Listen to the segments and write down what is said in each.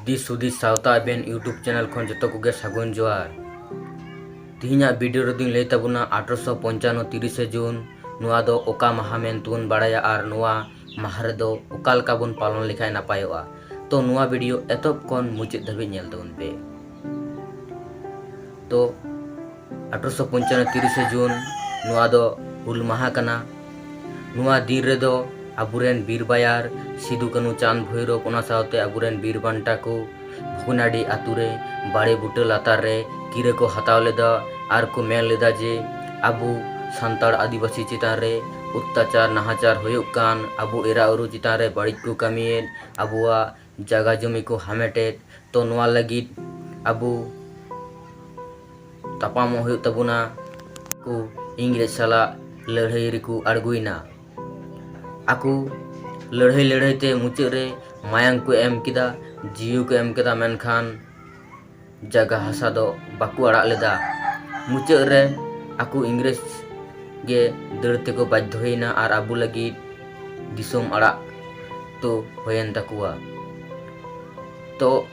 ᱫᱤᱥ ᱦᱩᱫᱤᱥ ᱥᱟᱶᱛᱟ ᱟᱵᱮᱱ ᱤᱭᱩᱴᱩᱵᱽ ᱪᱮᱱᱮᱞ ᱠᱷᱚᱱ ᱡᱚᱛᱚ ᱠᱚᱜᱮ ᱥᱟᱹᱜᱩᱱ ᱡᱚᱦᱟᱨ ᱛᱤᱦᱤᱧᱟᱜ ᱵᱷᱤᱰᱤᱭᱳ ᱨᱮᱫᱚᱧ ᱞᱟᱹᱭ ᱛᱟᱵᱚᱱᱟ ᱟᱴᱷᱨᱚᱥᱚ ᱯᱚᱧᱪᱟᱱᱱᱚ ᱛᱤᱨᱤᱥᱮ ᱡᱩᱱ ᱱᱚᱣᱟ ᱫᱚ ᱚᱠᱟ ᱢᱟᱦᱟ ᱢᱮᱱᱛᱮᱵᱚᱱ ᱵᱟᱲᱟᱭᱟ ᱟᱨ ᱱᱚᱣᱟ ᱢᱟᱦᱟ ᱨᱮᱫᱚ ᱚᱠᱟ ᱞᱮᱠᱟ ᱵᱚᱱ ᱯᱟᱞᱚᱱ ᱞᱮᱠᱷᱟᱱ ᱱᱟᱯᱟᱭᱚᱜᱼᱟ ᱛᱚ ᱱᱚᱣᱟ ᱵᱷᱤᱰᱤᱭᱳ ᱮᱛᱚᱦᱚᱵ ᱠᱷᱚᱱ ᱢᱩᱪᱟᱹᱫ ᱫᱷᱟᱹᱵᱤᱡ ᱧᱮᱞ ᱛᱟᱵᱚᱱ ᱯᱮ ᱛᱚ ᱟᱴᱷᱨᱚᱥᱚ ᱯᱚᱧᱪᱟᱱᱱᱚ ᱛᱤᱨᱤᱥᱮ ᱡᱩᱱ ᱱᱚᱣᱟ ᱫᱚ ᱦᱩᱞ ᱢᱟᱦᱟ ᱠᱟᱱᱟ ᱱᱚᱣᱟ ᱫᱤᱱ ᱨᱮᱫᱚ ᱟᱵᱚᱨᱮᱱ ᱵᱤᱨ ᱵᱟᱭᱟᱨ ᱥᱤᱫᱩ ᱠᱟᱹᱱᱩ ᱪᱟᱸᱫᱽ ᱵᱷᱳᱭᱨᱚᱵ ᱚᱱᱟ ᱥᱟᱶᱛᱮ ᱟᱵᱚᱨᱮᱱ ᱵᱤᱨ ᱵᱟᱱᱴᱟ ᱠᱚ ᱵᱷᱩᱜᱽᱱᱟᱰᱤ ᱟᱛᱳ ᱨᱮ ᱵᱟᱲᱮ ᱵᱩᱴᱟᱹ ᱞᱟᱛᱟᱨ ᱨᱮ ᱠᱤᱨᱟᱹ ᱠᱚ ᱦᱟᱛᱟᱣ ᱞᱮᱫᱟ ᱟᱨ ᱠᱚ ᱢᱮᱱ ᱞᱮᱫᱟ ᱡᱮ ᱟᱵᱚ ᱥᱟᱱᱛᱟᱲ ᱟᱹᱫᱤᱵᱟᱹᱥᱤ ᱪᱮᱛᱟᱱ ᱨᱮ ᱚᱛᱛᱟᱪᱟᱨ ᱱᱟᱦᱟᱪᱟᱨ ᱦᱩᱭᱩᱜ ᱠᱟᱱ ᱟᱵᱚ ᱮᱨᱟ ᱩᱨᱩ ᱪᱮᱛᱟᱱ ᱨᱮ ᱵᱟᱹᱲᱤᱡ ᱠᱚ ᱠᱟᱹᱢᱤᱭᱮᱫ ᱟᱵᱚᱣᱟᱜ ᱡᱟᱜᱟ ᱡᱚᱢᱤ ᱠᱚ ᱦᱟᱢᱮᱴᱮᱫ ᱛᱚ ᱱᱚᱣᱟ ᱞᱟᱹᱜᱤᱫ ᱟᱵᱚ ᱛᱟᱯᱟᱢᱚᱜ ᱦᱩᱭᱩᱜ ᱛᱟᱵᱚᱱᱟ ᱠᱚ ᱤᱝᱨᱮᱡᱽ ᱥᱟᱞᱟᱜ ᱞᱟᱹᱲᱦᱟᱹᱭ ᱨᱮᱠᱚ ᱟᱬᱜᱚᱭᱮᱱᱟ ᱟᱠᱚ ᱞᱟᱹᱲᱦᱟᱹᱭ ᱞᱟᱹᱲᱦᱟᱹᱭ ᱛᱮ ᱢᱩᱪᱟᱹᱫ ᱨᱮ ᱢᱟᱭᱟᱝ ᱠᱚ ᱮᱢ ᱠᱮᱫᱟ ᱡᱤᱣᱤ ᱠᱚ ᱮᱢ ᱠᱮᱫᱟ ᱢᱮᱱᱠᱷᱟᱱ ᱡᱟᱭᱜᱟ ᱦᱟᱥᱟ ᱫᱚ ᱵᱟᱠᱚ ᱟᱲᱟᱜ ᱞᱮᱫᱟ ᱢᱩᱪᱟᱹᱫ ᱨᱮ ᱟᱠᱚ ᱤᱝᱨᱮᱡᱽ ᱜᱮ ᱫᱟᱹᱲ ᱛᱮᱠᱚ ᱵᱟᱫᱽᱫᱷᱚᱭᱮᱱᱟ ᱟᱨ ᱟᱵᱚ ᱞᱟᱹᱜᱤᱫ ᱫᱤᱥᱚᱢ ᱟᱲᱟᱜ ᱛᱚ ᱦᱩᱭᱮᱱ ᱛᱟᱠᱚᱣᱟ ᱛᱚ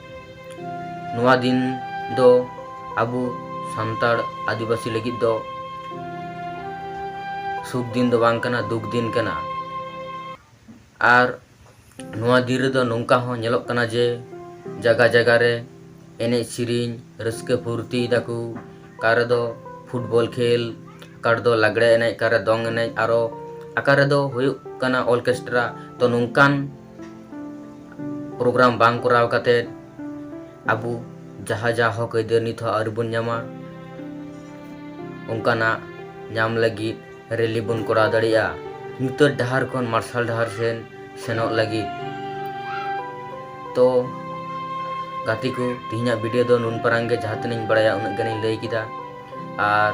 ᱱᱚᱣᱟ ᱫᱤᱱ ᱫᱚ ᱟᱵᱚ ᱥᱟᱱᱛᱟᱲ ᱟᱹᱫᱤᱵᱟᱹᱥᱤ ᱞᱟᱹᱜᱤᱫ ᱫᱚ ᱥᱩᱠ ᱫᱤᱱ ᱫᱚ ᱵᱟᱝ ᱠᱟᱱᱟ ᱫᱩᱠ ᱫᱤᱱ ᱠᱟᱱᱟ ᱟᱨ ᱱᱚᱣᱟ ᱫᱤᱱ ᱨᱮᱫᱚ ᱱᱚᱝᱠᱟ ᱦᱚᱸ ᱧᱮᱞᱚᱜ ᱠᱟᱱᱟ ᱡᱮ ᱡᱟᱭᱜᱟ ᱡᱟᱭᱜᱟ ᱨᱮ ᱮᱱᱮᱡ ᱥᱮᱨᱮᱧ ᱨᱟᱹᱥᱠᱟᱹ ᱯᱷᱩᱨᱛᱤᱭ ᱫᱟᱠᱚ ᱚᱠᱟ ᱨᱮᱫᱚ ᱯᱷᱩᱴᱵᱚᱞ ᱠᱷᱮᱞ ᱚᱠᱟ ᱨᱮᱫᱚ ᱞᱟᱜᱽᱲᱮ ᱮᱱᱮᱡ ᱚᱠᱟ ᱨᱮ ᱫᱚᱝ ᱮᱱᱮᱡ ᱟᱨᱚ ᱚᱠᱟ ᱨᱮᱫᱚ ᱦᱩᱭᱩᱜ ᱠᱟᱱᱟ ᱚᱨᱠᱮᱥᱴᱨᱟ ᱛᱚ ᱱᱚᱝᱠᱟᱱ ᱯᱨᱳᱜᱨᱟᱢ ᱵᱟᱝ ᱠᱚᱨᱟᱣ ᱠᱟᱛᱮ ᱟᱵᱚ ᱡᱟᱦᱟᱸ ᱡᱟᱦᱟᱸ ᱦᱚᱠ ᱟᱹᱭᱫᱟᱹᱨ ᱱᱤᱛ ᱦᱚᱸ ᱟᱹᱣᱨᱤ ᱵᱚᱱ ᱧᱟᱢᱟ ᱚᱱᱠᱟᱱᱟᱜ ᱧᱟᱢ ᱞᱟᱹᱜᱤᱫ ᱨᱮᱞᱤ ᱵᱚᱱ ᱠᱚᱨᱟᱣ ᱫᱟᱲᱮᱭᱟᱜᱼᱟ ᱧᱩᱛᱟᱹᱛ ᱰᱟᱦᱟᱨ ᱠᱷᱚᱱ ᱢᱟᱨᱥᱟᱞ ᱰᱟᱦᱟᱨ ᱥᱮᱱ ᱥᱮᱱᱚᱜ ᱞᱟᱹᱜᱤᱫ ᱛᱚ ᱜᱟᱛᱮ ᱠᱚ ᱛᱮᱦᱮᱧᱟᱜ ᱵᱷᱤᱰᱤᱭᱳ ᱫᱚ ᱱᱩᱱ ᱯᱟᱨᱟᱝ ᱜᱮ ᱡᱟᱦᱟᱸ ᱛᱤᱱᱟᱹᱧ ᱵᱟᱲᱟᱭᱟ ᱩᱱᱟᱹᱜ ᱜᱟᱱᱤᱧ ᱞᱟᱹᱭ ᱠᱮᱫᱟ ᱟᱨ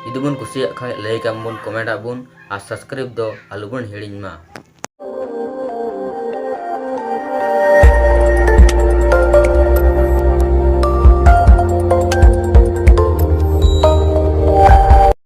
ᱡᱩᱫᱤ ᱵᱚᱱ ᱠᱩᱥᱤᱭᱟᱜ ᱠᱷᱟᱱ ᱞᱟᱹᱭ ᱠᱟᱜ ᱵᱚᱱ ᱠᱚᱢᱮᱱᱴ ᱟᱜ ᱵᱚᱱ ᱟᱨ ᱥᱟᱵᱥᱠᱨᱟᱭᱤᱵ ᱫᱚ ᱟᱞᱚ ᱵᱚᱱ ᱦᱤᱲᱤᱧ ᱢᱟ